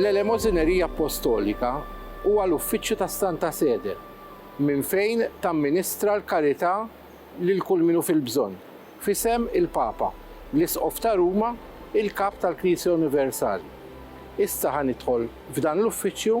L-Elemożinerija Appostolika huwa l-uffiċċju tas-Santa Sede minn fejn tamministra l-karità lil kull min hu fil-bżonn, f'isem il-Papa, l-Isqof ta' Ruma, il-Kap tal-Knisja Universali. Issa ħa nidħol f'dan l-uffiċċju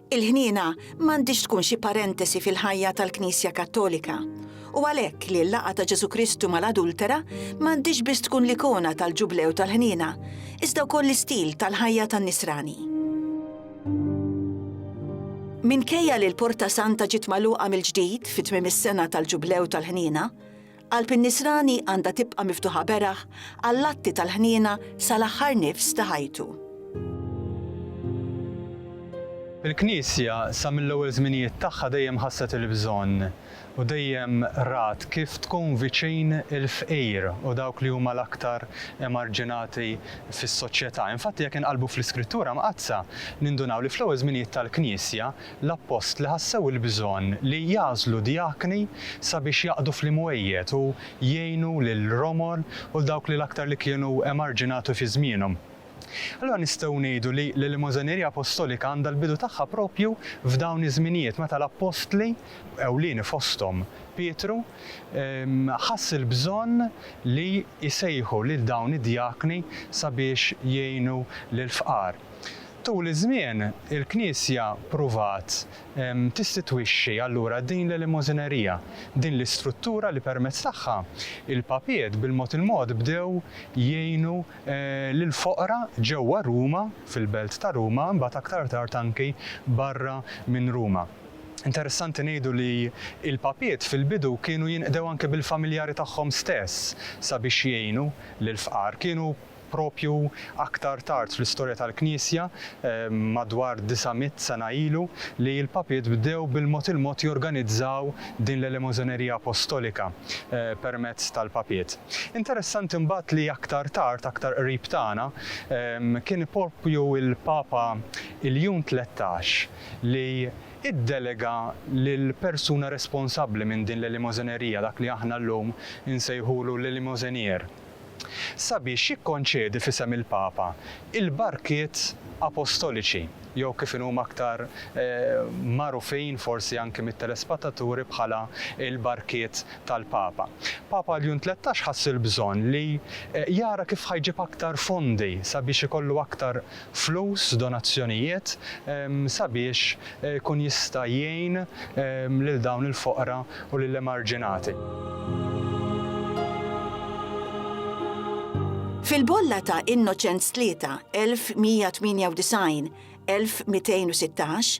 Il-ħniena m'għandhiex tkun xi parentesi fil-ħajja tal-Knisja Kattolika, u għalhekk li l-laqgħa ta' Ġesù Kristu mal-adultera m'għandhiex biss tkun l-ikona tal-Ġublew tal-ħniena, iżda wkoll l-istil tal-ħajja tan-nisrani. Minkejja li l-Porta Santa ġiet magħluqa mill-ġdid fi tmiem is-sena tal-Ġublew tal-ħniena, Qalb in-nisrani għandha tibqa' miftuħa beraħ għall-atti tal-ħniena sal-aħħar nifs ta' ħajtu. Il-Knisja, sa mill-ewwel żminijiet tagħha dejjem ħasset il-bżonn u dejjem rat kif tkun viċin il-fqir u dawk li huma l-aktar emarġinati fis-soċjetà. Infatti jekk inqallbu fl-Iskrittura Mqaddsa, nindunaw li fl-ewwel żminijiet tal-Knisja, l-appostli ħassew il-bżonn li jagħżlu djakni sabiex jaqdu fl-imwejjed u jgħinu lill-romor u 'l dawk li l-aktar li kienu emarġinati fi żmienhom. Allura nistgħu ngħidu li l-Elemożanerija Apostolika għandha l-bidu tagħha proprju f'dawn iż-żminijiet meta l-appostli, ewlieni fosthom Pietru, ħass il-bżonn li jsejħu lil dawn id-djakni sabiex jgħinu lill-fqar. Tul iż-żmien, il-Knisja ppruvat tistitwixxi allura din l-elemożinerija, din l-istruttura li permezz tagħha l-papiet bil-mod il-mod bdew jgħinu lill-foqra ġewwa Ruma, fil-belt ta' Ruma, imbagħad aktar tard anki barra minn Ruma. Interessanti ngħidu li l-papiet fil-bidu kienu jinqdew anki bil-familjari tagħhom stess sabiex jgħinu lill-fqar. Kienu Proprju aktar tard fl-istorja tal-Knisja, madwar disa' mitt sena ilu, li l-Papiet bdew bil-mod il-mod jorganizzaw din l-elemożonerija apostolika permezz tal-Papiet. Interessanti mbagħad li aktar tard, aktar qrib tagħna, kien proprju l-Papa Iljun Tlettax li iddelega lill-persuna responsabbli minn din l-elemożonerija, dak li aħna llum insejħulu l-Elemosenier, sabiex jikkonċedi f'isem il-Papa l-barkiet apostoliċi jew kif inhuma aktar magħrufin forsi anki mit-telespataturi bħala l-barkiet tal-Papa. Papa Ljun Tlettax ħass il-bżonn li jara kif ħa jġib aktar fondi sabiex ikollu aktar flus, donazzjonijiet, sabiex ikun jista' jgħin lil dawn il-foqra u lill-emarġinati. Fil-bolla ta' Innoċenz Tlieta, 1198, 1216,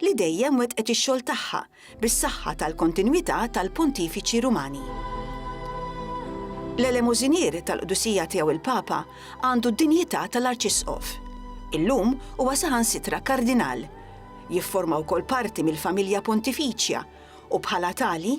li dejjem wettqet ix-xogħol tagħha bis-saħħa tal-kontinwità tal-Pontifiċi Rumani. L-Elemużinier tal-Qdusija Tiegħu l-Papa għandu d-dinjità tal-Arċisqof. Illum huwa saħansitra Kardinal. Jifforma wkoll parti mill-Familja Pontifiċja u bħala tali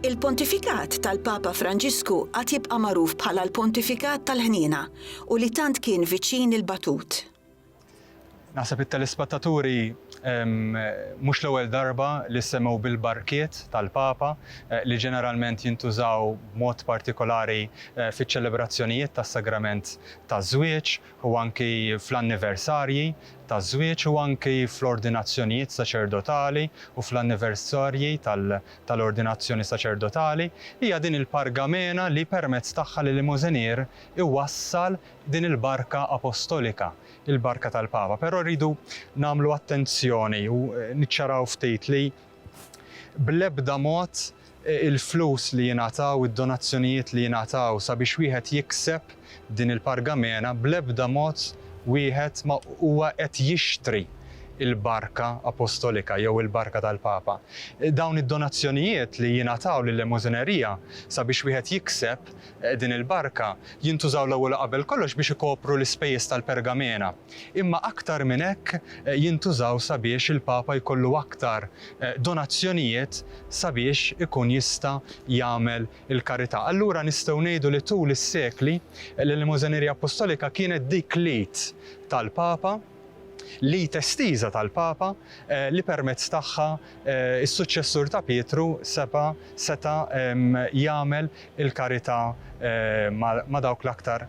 Il-Pontifikat tal-Papa Franġisku għad jibqa' magħruf bħala l-Pontifikat tal-Ħniena u li tant kien viċin il-batut. Naħseb it-telespattaturi mhux l-ewwel darba li semgħu bil-barkiet tal-Papa li ġeneralment jintużaw b'mod partikolari fiċ-ċelebrazzjonijiet tas-Sagrament taż-Żwieġ u anki fl-anniversarji taż-żwieġ u anki fl-ordinazzjonijiet saċerdotali u fl-anniversarji tal-ordinazzjoni saċerdotali, hija din il-pargamena li permezz tagħha l-Elemosenier iwassal din il-barka apostolika, il-barka tal-Papa. Però rridu nagħmlu attenzjoni u niċċaraw ftit li bl-ebda mod il-flus li jingħataw, id-donazzjonijiet li jingħataw sabiex wieħed jikseb, din il-pargamena bl-ebda mod wieħed ma huwa qed jixtri l-barka apostolika jew il-barka tal-Papa. Dawn id-donazzjonijiet li jingħataw lil-lemożinerija sabiex wieħed jikseb din il-barka jintużaw l-ewwel u qabel kollox biex ikopru l-ispejjeż tal-pergamena, imma aktar minn hekk jintużaw sabiex il-Papa jkollu aktar donazzjonijiet sabiex ikun jista' jagħmel il-karità. Allura nistgħu ngħidu li tul is-sekli, l-Elemożanerija Appostolika kienet dik l-id tal-Papa, l-id estiża tal-Papa, li permezz tagħha s-suċċessur ta' Pietru seba' seta' jagħmel il-karità ma' dawk l-aktar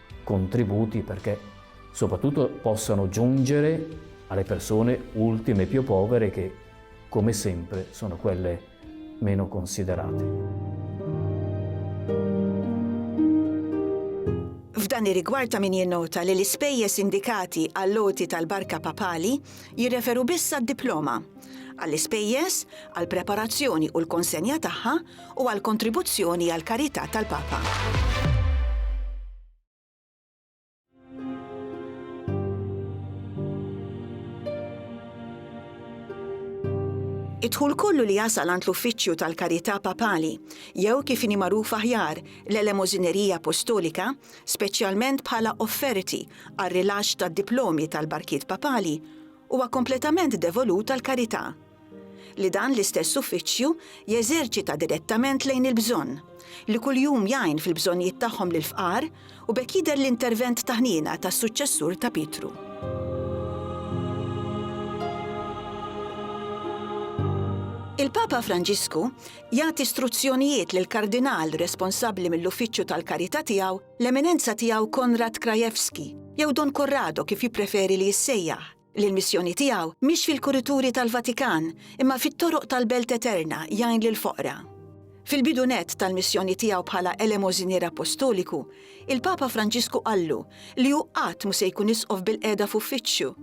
contributi perché soprattutto possano giungere alle persone ultime più povere che, come sempre, sono quelle meno considerate. F'dan ir-rigward ta' min jinnota li l-ispejjeż indikati għall-għoti tal-barka papali jirreferu biss għad-diploma. Għall-ispejjeż, għall-preparazzjoni u l-konsenja tagħha, u għall-kontribuzzjoni għall-karità tal-Papa. Id-dħul kollu li jasal għand l-Uffiċċju tal-Karità Papali, jew kif inhi magħruf aħjar l-Elemożinerija Apostolika, speċjalment bħala offerti għar-rilaxx tad-diplomi tal-barkiet papali, huwa kompletament devolut għall-karità. li dan l-istess uffiċċju jeżerċita direttament lejn il-bżonn, li kuljum jgħin fil-bżonnijiet tagħhom lill-fqar u b'hekk jidher l-intervent ta' ħniena tas-suċċessur ta' Pietru. Il-Papa Franġisku jagħti struzzjonijiet lil kardinal responsabbli mill-uffiċċju tal-karità tiegħu l-Eminenza tiegħu Konrad Krajewski, jew Don Corrado kif jippreferi li jissejjaħ, li l-missjoni tiegħu mhix fil-kurituri tal-Vatikan imma fit-toroq tal-Belt Eterna jgħin lill-foqra. Fil-bidu nett tal-missjoni tiegħu bħala Elemożinier Appostoliku, il-Papa Franġisku qallu li hu qatt mhu se jkun Isqof bil-qiegħda f'uffiċċju.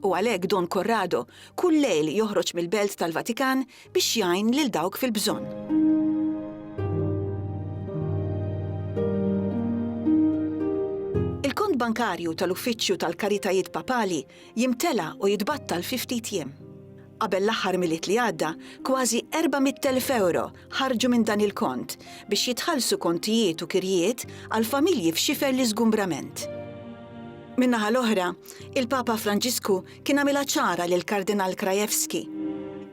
U għalhekk Don Corrado kull lejl joħroġ mill-Belt tal-Vatikan biex jgħin lil dawk fil-bżonn. bankarju tal-Uffiċċju tal-Karitajiet Papali jimtela u jitbattal fi ftit jiem. Qabel l-aħħar milit li għadda, kważi 400,000 euro ħarġu minn dan il-kont biex jitħallsu kontijiet u kirjiet għal familji f'xifer l-iżgumbrament. Minnaħa l-oħra, il-Papa Franġisku Kien għamilha ċara lill-Kardinal Krajewski,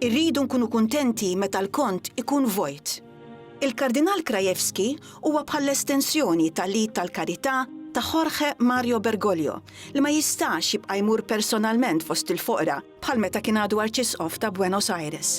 Irridu nkunu kuntenti meta l-kont ikun vojt. Il-Kardinal Krajewski huwa bħall-estensjoni ta' l-id tal-karità ta' Jorge Mario Bergoglio li ma jistax jibqa' jmur personalment fost il-foqra bħal meta kien għadu Arċisqof ta' Buenos Aires.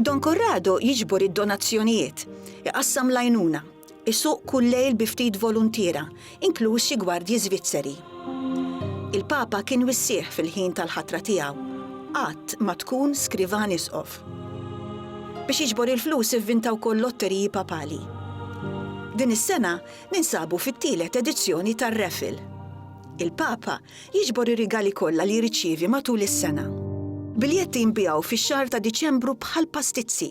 Don Corrado jiġbor id-donazzjonijiet, iqassam l-għajnuna, Isuq kull lejl bi ftit voluntiera, inkluż xi gwardji Żvizzeri. Il-Papa kien wissieħ fil-ħin tal-ħatra tiegħu. Qatt ma tkun skrivan isqof. Biex jiġbor il-flus ivvinta wkoll lotteriji papali. Din is-sena ninsabu fit-tielet edizzjoni tar-raffle. Il-Papa jiġbor ir-rigali kollha li jirċievi matul is-sena. Biljetti jinbiegħu fix-xahar ta' Diċembru bħall-pastizzi.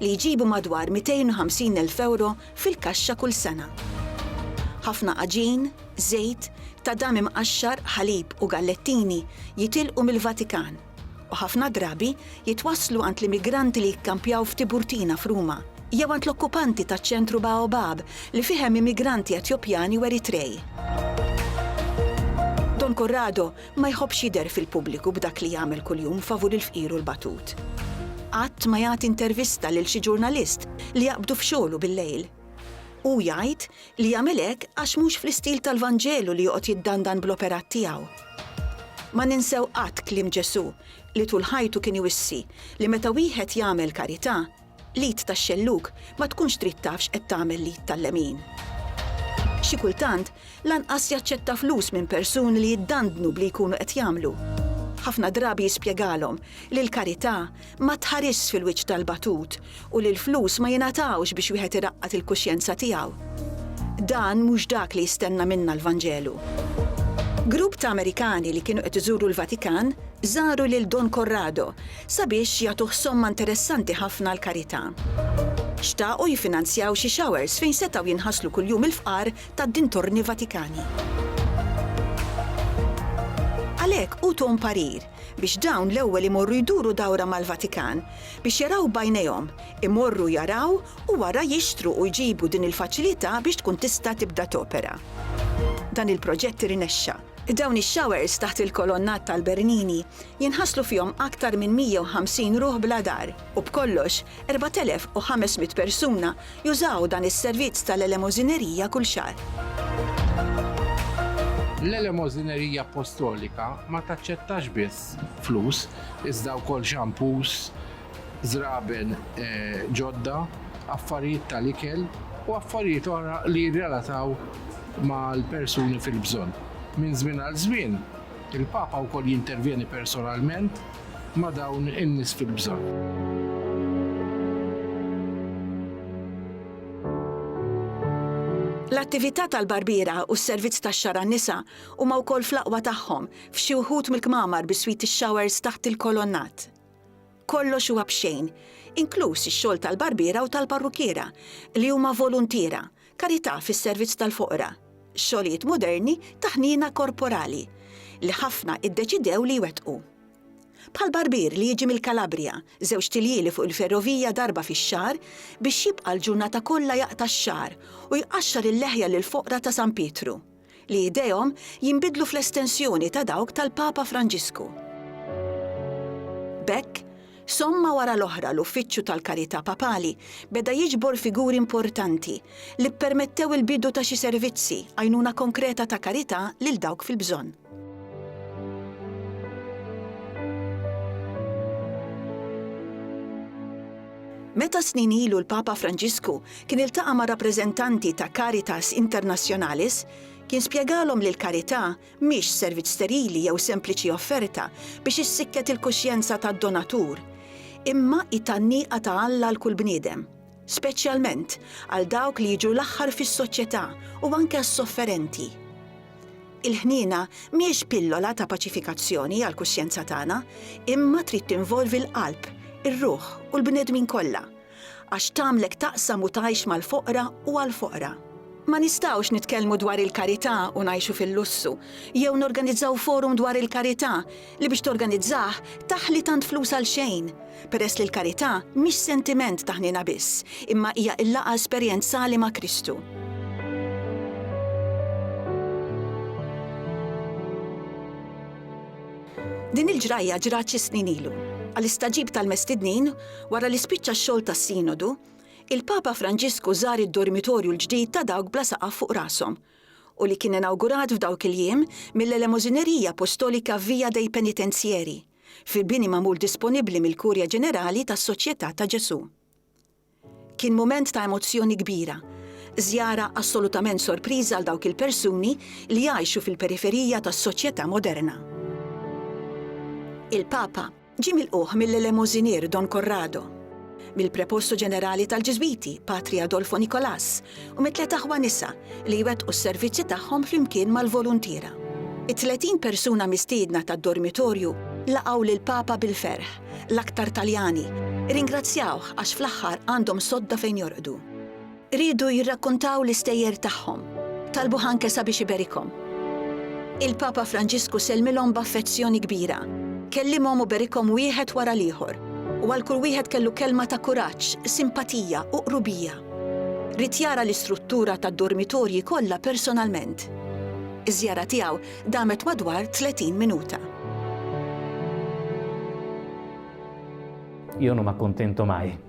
li jġibu madwar 250 elf ewro fil-kaxxa kull sena. Ħafna għaġin, żejt, tadam imqaxxar, ħalib u gallettini jitilqu mill-Vatikan u ħafna drabi jitwasslu għand l-immigranti li jikkampjaw f'Tiburtina f'Ruma jew għand l-okkupanti taċ-ċentru Baobab li fih hemm immigranti Etjopjani u Eritrej. Don Corrado Ma jħobbx jidher fil-pubbliku b'dak li jagħmel kuljum favur il-fqir u l-batut. Qatt ma jagħti intervista lil xi ġurnalist li jaqbdu f'xogħlu bil-lejl. Hu jgħid li jagħmel hekk għax mhux fl-istil tal-Vanġelu li joqgħod jiddandan bl-operat tiegħu. Ma ninsew qatt kliem Ġesù li tul ħajtu kien iwissi li meta wieħed jagħmel karità, L-id tax-xellug ma tkunx trid taf x'qed tagħmel l-id tal-lemin. Xi kultant, lanqas jaċċetta flus minn persuni li jiddandnu b'li jkunu qed jagħmlu. Ħafna drabi jispjegalhom li l-karità ma tħarisx fil-wiċċ tal-batut u li l-flus ma jingħatawx biex wieħed iraqqad il-kuxjenza tiegħu. Dan mhux dak li jistenna minna l-Vanġelu. Grupp ta' Amerikani li kienu qed iżuru l-Vatikan żaru lil Don Corrado, sabiex jagħtuh somma interessanti ħafna għall-karità. Xtaqu jiffinanzjaw xi showers fejn setgħu jinħaslu kuljum il-fqar tad-dintorni Vatikani. Għalhekk utuhom parir biex dawn l-ewwel imorru jduru dawra mal-Vatikan biex jaraw b'għajnejhom, imorru jaraw u wara jixtru u jġibu din il-faċilità biex tkun tista' tibda topera. Dan il-proġett irnexxa. Dawn ix-showers taħt il-kolonnat tal-Bernini jinħaslu fihom aktar minn 150 ruħ bla dar u b'kollox 4,500 persuna jużaw dan is-servizz tal-elemożinerija kull xahar. L-elemożinerija appostolika ma taċċettax biss flus iżda wkoll xampus, żraben ġodda, affarijiet tal-ikel u affarijiet oħra li jirrelataw mal-persuni fil-bżonn. Minn żmien għal żmien, Il-Papa wkoll jintervjeni personalment ma' dawn in-nies fil-bżonn. L-attività tal-barbiera u s-servizz tax-xagħar għan-nisa huma wkoll fl-aqwa tagħhom f'xi wħud mill-kmamar bi sweetie showers taħt il-kolonnat. Kollox huwa b'xejn, inkluż ix-xogħol tal-barbiera u tal-parrukkiera, li huma voluntiera, Karità fis-servizz tal-foqra, xogħlijiet moderni ta' ħniena korporali li ħafna iddeċidew li jwettqu. Bħal barbier li jiġi mill-Kalabrija, żewġt iljieli fuq il-ferrovija darba fix-xahar biex jibqa' l-ġurnata kollha jaqta' x-xagħar u jqaxxar il-leħja lill-foqra ta' San Pietru. li idejhom jinbidlu fl-estensjoni ta' dawk tal-Papa Franġisku. B'hekk, somma wara l-oħra l-Uffiċċju tal-Karità Papali beda jiġbor figuri importanti li ppermettew il-bidu ta' xi servizzi, għajnuna konkreta ta' karità lil dawk fil-bżonn. Meta snin ilu l-Papa Franġisku kien iltaqa' ma' rappreżentanti ta' Caritas Internationalis, kien spjegalhom li l-karità mhix servizz sterili jew sempliċi offerta biex issikket il-kuxjenza tad-donatur, imma hi tgħanniqa ta' Alla għal kull bniedem, speċjalment għal dawk li jiġu l-aħħar fis-soċjetà u anke għas-sofferenti. Il-ħniena mhijiex pillola ta' paċifikazzjoni għall-kuxjenza tagħna, imma trid tinvolvi l-qalb, ir-ruħ u l-bnedmin kollha. Għax tagħmlek taqsam u tgħix mal-foqra u għall-foqra. Ma nistgħux nitkellmu dwar il-karità u ngħixu fil-lussu, jew norganizzaw forum dwar il-karità li biex torganizzah taħli tant flus għal xejn, peress li l-karità mhix sentiment ta' ħniena biss, imma hija l-laqgħa esperjenzali ma' Kristu. Din il-ġrajja ġrat xi snin ilu. Għal istaġib tal-mestidnin, Wara li spiċċa x-xogħol tas-Sinodu, il-Papa Franġisku żar id-dormitorju l-ġdid ta' dawk bla saqaf fuq rashom, u li kien inawgurat f'dawk il-jiem mill-Elemozinerija Apostolika Via dei Penitenzieri, fi bini magħmul disponibbli mill-Kurja Ġenerali tas-Soċjetà ta' Ġesù. Kien mument ta' emozzjoni kbira, żjara assolutament sorpriża għal dawk il-persuni li jgħixu fil-periferija tas-soċjetà moderna. Il-Papa. Ġie milqugħ mill-elemożinier Don Corrado, mill-prepostu ġenerali tal-Ġiżwiti, Patri Adolfo Nicolas, u mit-tliet aħwa nisa li jwettqu s-servizzi tagħhom flimkien mal-voluntiera. It-tletin persuna mistiedna tad-dormitorju laqgħu lill-Papa bil-ferħ, l-aktar Taljani, irringrazzjawh għax fl-aħħar għandhom sodda fejn jorqdu. Riedu jirrakkuntaw l-istejjer tagħhom. Talbuh anke sabiex iberikhom. Il-Papa Franġisku sellmilhom b'affezzjoni kbira, kellimhom u berikhom wieħed wara l-ieħor, u għal kull wieħed kellu kelma ta' kuraġġ, simpatija u qrubija. Ried jara l-istruttura tad-dormitorji kollha personalment. Iż-żjara tiegħu damet madwar 30 minuta. Io non m'accontento mai.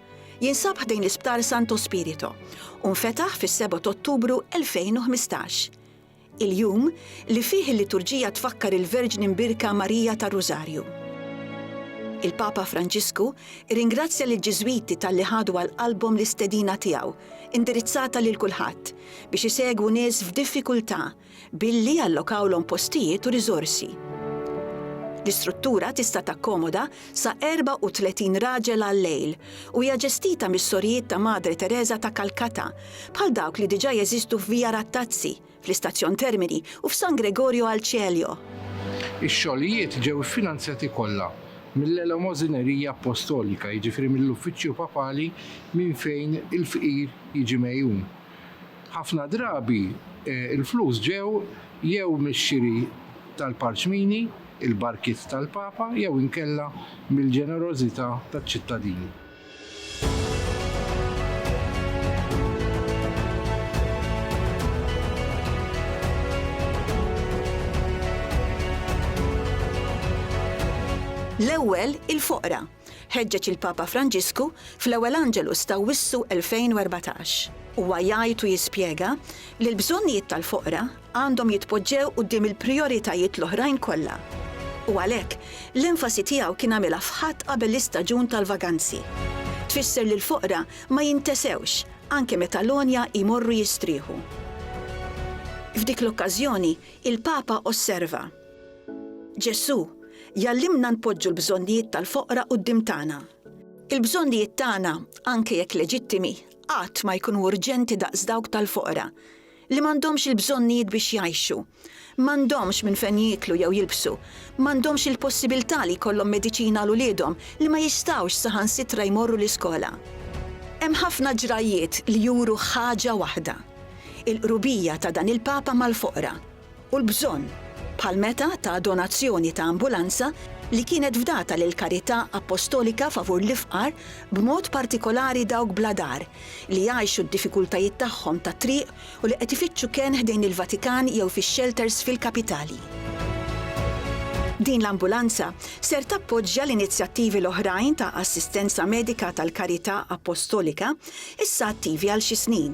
Jinsab ħdejn l-Isptar Santo Spirito u nfetaħ fis-7 t'Ottubru 2015. Il-jum li fih il-liturġija tfakkar il-Verġni Mbierka Marija tar-Rużarju. Il-Papa Franġisku rringrazzja lill-Ġiżwiti talli ħadu għal qalbhom l-istedina tiegħu, indirizzata lil kulħadd, biex isegwu nies f'diffikultà billi allokawlhom postijiet u riżorsi. L-istruttura tista' takkomoda sa 34 raġel għal-lejl u hija ġestita mis-Sorijiet ta' Madre Teresa ta' Calcutta, bħal dawk li diġà jeżistu f'Via Rattazzi, fl-Istazzjon Termini u f'San Gregorio al Cielio. Ix-xogħlijiet ġew iffinanzjati kollha mill-Elemożinerija Appostolika, jiġifieri mill-Uffiċċju Papali minn fejn il-fqir jiġi megħjun. Ħafna drabi l-flus ġew jew mix-xiri tal-parċmini, il-barkiet tal-Papa jew inkella mill-ġenerożità taċ-ċittadini. L-ewwel il-foqra, Ħeġġeġ il-Papa Franġisku fl-ewwel Angelus ta' Wissu 2014. Huwa jgħid u jispjega li l-bżonnijiet tal-foqra għandhom jitpoġġew quddiem il-prijoritajiet l-oħrajn kollha. U għalhekk, l-enfasi tiegħu kien għamilha f'Ħadd qabel l-istaġun tal-vaganzi. Tfisser li l-foqra ma jintesewx anke meta l-għonja jmorru jistrieħu. F'dik l-okkażjoni, il-Papa osserva. Ġesù jgħallimna npoġġu l-bżonnijiet tal-foqra quddiem tagħna. Il-bżonnijiet tagħna, anke jekk leġittimi, qatt ma jkunu urġenti daqs dawk tal-foqra, li m'għandhomx il-bżonnijiet biex jgħixu. M'għandhomx minn fejn jieklu jew jilbsu, m'għandhomx il-possibilità li jkollhom mediċina għal uliedhom li ma jistgħux saħansitra jmorru l-iskola. Hemm ħafna ġrajjiet li juru ħaġa waħda, il-qrubija ta' dan il-Papa mal-foqra. u l-bżonn, bħal meta ta donazzjoni ta' ambulanza li kienet fdata lill-karità appostolika favur l-ifqar, b'mod partikolari dawk bla dar, li jgħixu d-diffikultajiet tagħhom tat-triq u li qed ifittxu kenn ħdejn il-Vatikan jew fix-xelters fil-kapitali. Din l-ambulanza ser tappoġġja l-inizjattivi l-oħrajn ta' assistenza medika tal-karità appostolika, issa attivi għal xi snin,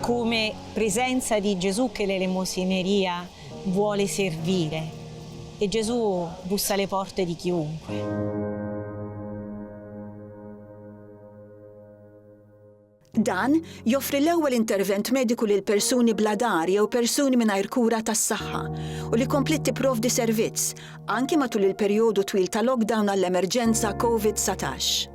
Cume prisenza di Gesù che l'elemosineria vuole servire. E Gesù bussa alle porte di chiunque. Dan joffri l-ewwel intervent mediku lil persuni bla dar jew persuni mingħajr kura tas-saħħa u li kompliet tipprovdi servizz, anki matul il-perjodu twil ta' lockdown għall-emerġenza Covid-19.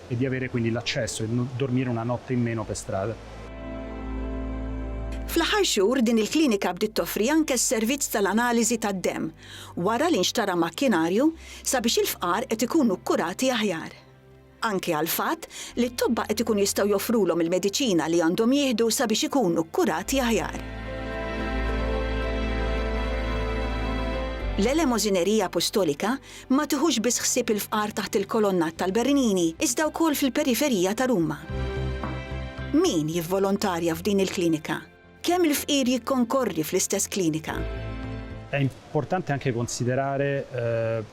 e di avere quindi l'accesso e dormire una notte in meno pe' strada. Fl-aħħar xhur din il-klinika bdiet toffri anke s-servizz tal-analiżi tad-demm wara li nxtara makkinarju sabiex il-fqar qed ikunu kkurati aħjar. Anke għall-fatt li t-tobba qed ikun jistgħu joffrulhom il-mediċina li għandhom jieħdu sabiex ikunu kkurati aħjar. L-Elemosineriya Apostolika ma tiħux biss ħsieb il-fqar taħt il-kolonnat tal-Bernini, iżda wkoll fil-periferija ta' Ruma. Min jivvolontarja f'din il-klinika? Kemm il-fqir jikkonkorri fl-istess klinika? È importante anche considerare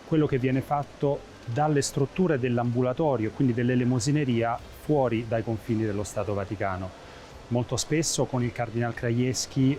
quello che viene fatto dalle strutture dell'ambulatorio e quindi dell'elemosineria fuori dai confini dello Stato Vaticano. Molto spesso con il Cardinal Krajewski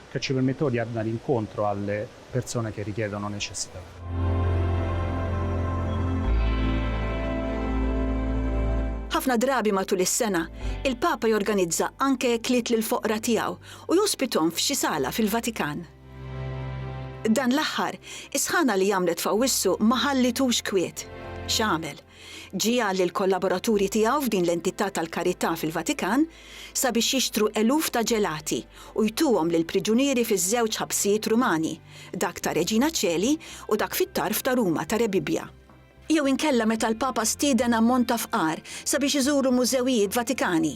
Ca ci permettò di annari incontro a le persone che richiedono necessità. Ħafna drabi matul is-sena, il-Papa jorganizza anke ekliet lill-foqra tiegħu u jospithom f'xi sala fil-Vatikan. Dan l-aħħar, is-sħana li għamlet f'Awwissu ma ħallitux kwiet. X'għamel? Ġie qal lill-kollaboraturi tiegħu f'din l-entità tal-karità fil-Vatikan sabiex jixtru eluf ta' ġelati u jtuhom lill-priġunieri fiż-żewġ ħabsijiet Rumani, dak ta' Regina Coeli u dak fit-tarf ta' Ruma ta' Rebibbia. Jew inkella meta l-Papa stieden ammont ta' fqar sabiex iżuru mużewijiet Vatikani.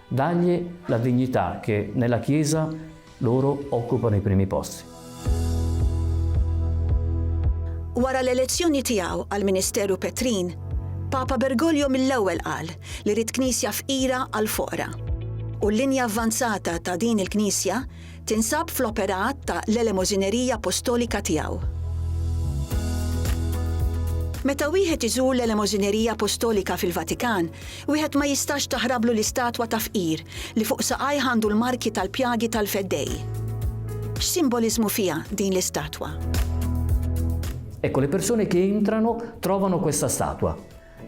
Dagli la dignità che nella Chiesa loro occupano i primi posti. Wara l-elezzjoni tiegħu għall-ministeru Petrin, Papa Bergoglio mill-ewwel qal li ried Knisja fqira għall-foqra. U l-linja avvanzata ta' din il-Knisja Tinsab fl-operat ta' l-Elemożinerija Apostolika tiegħu. Meta wieħed iżur l-Elemożinerija Apostolika fil-Vatikan, wieħed ma jistax taħrablu l-istatwa ta' fqir li fuq saqajh għandu l-marki tal-pjagi tal-Feddej. X'simboliżmu fiha din l-istatwa? Ecco, le persone che entrano trovano questa statua.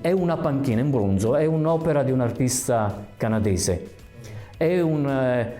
È una panchina in bronzo, è un'opera di un artista canadese. È un eh,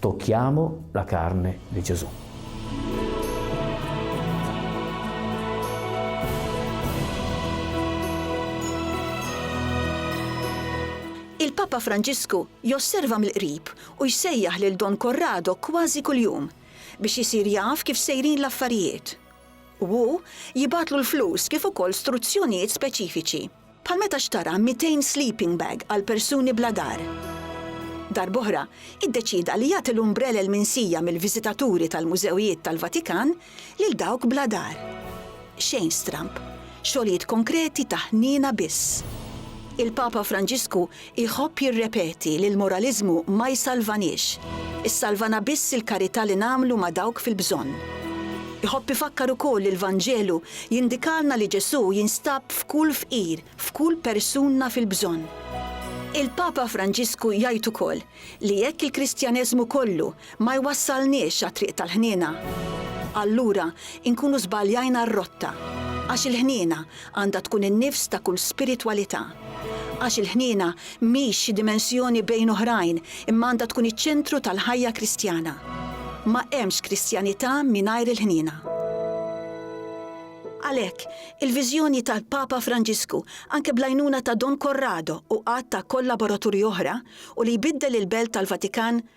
Tocchiamo la carne di Gesù. Il-Papa Franġisku josserva mill-qrib u jsejjaħ lil Don Corrado kważi kuljum biex isir jaf kif sejrin l-affarijiet. U hu jibgħatlu l-flus kif ukoll struzzjonijiet speċifiċi. Bħal meta xtara 200 sleeping bag għal persuni bla dar. Darb'oħra, iddeċieda li jagħti l-umbrelel minsija mill-viżitaturi tal-mużewijiet tal-Vatikan lil dawk bla dar. Xejn stramb. Xogħlijiet konkreti ta' ħniena biss. Il-Papa Franġisku Iħobb jirrepeti li l-moraliżmu ma jsalvaniex, issalvana biss il-karità li nagħmlu ma' dawk fil-bżonn. Iħobb ifakkar ukoll li l-Vanġelu jindikalna li Ġesù jinstab f'kull fqir, f'kull persunna fil-bżonn. Il-Papa Franġisku jgħid ukoll li jekk il-Kristjaneżmu kollu Ma jwassalniex għat-triq tal-ħniena. Allura nkunu żbaljajna r-rotta. Għax il-ħniena għandha tkun in-nifs ta' kull spiritwalità. Għax il-ħniena mhix xi dimensjoni bejn oħrajn imma għandha tkun iċ-ċentru tal-ħajja Kristjana. Ma hemmx Kristjanità mingħajr il-ħniena. Għalhekk, il-viżjoni tal-Papa Franġisku, anke bl-għajnuna ta' Don Corrado u għadd ta' kollaboraturi oħra, u li jbiddel il-belt tal-Vatikan,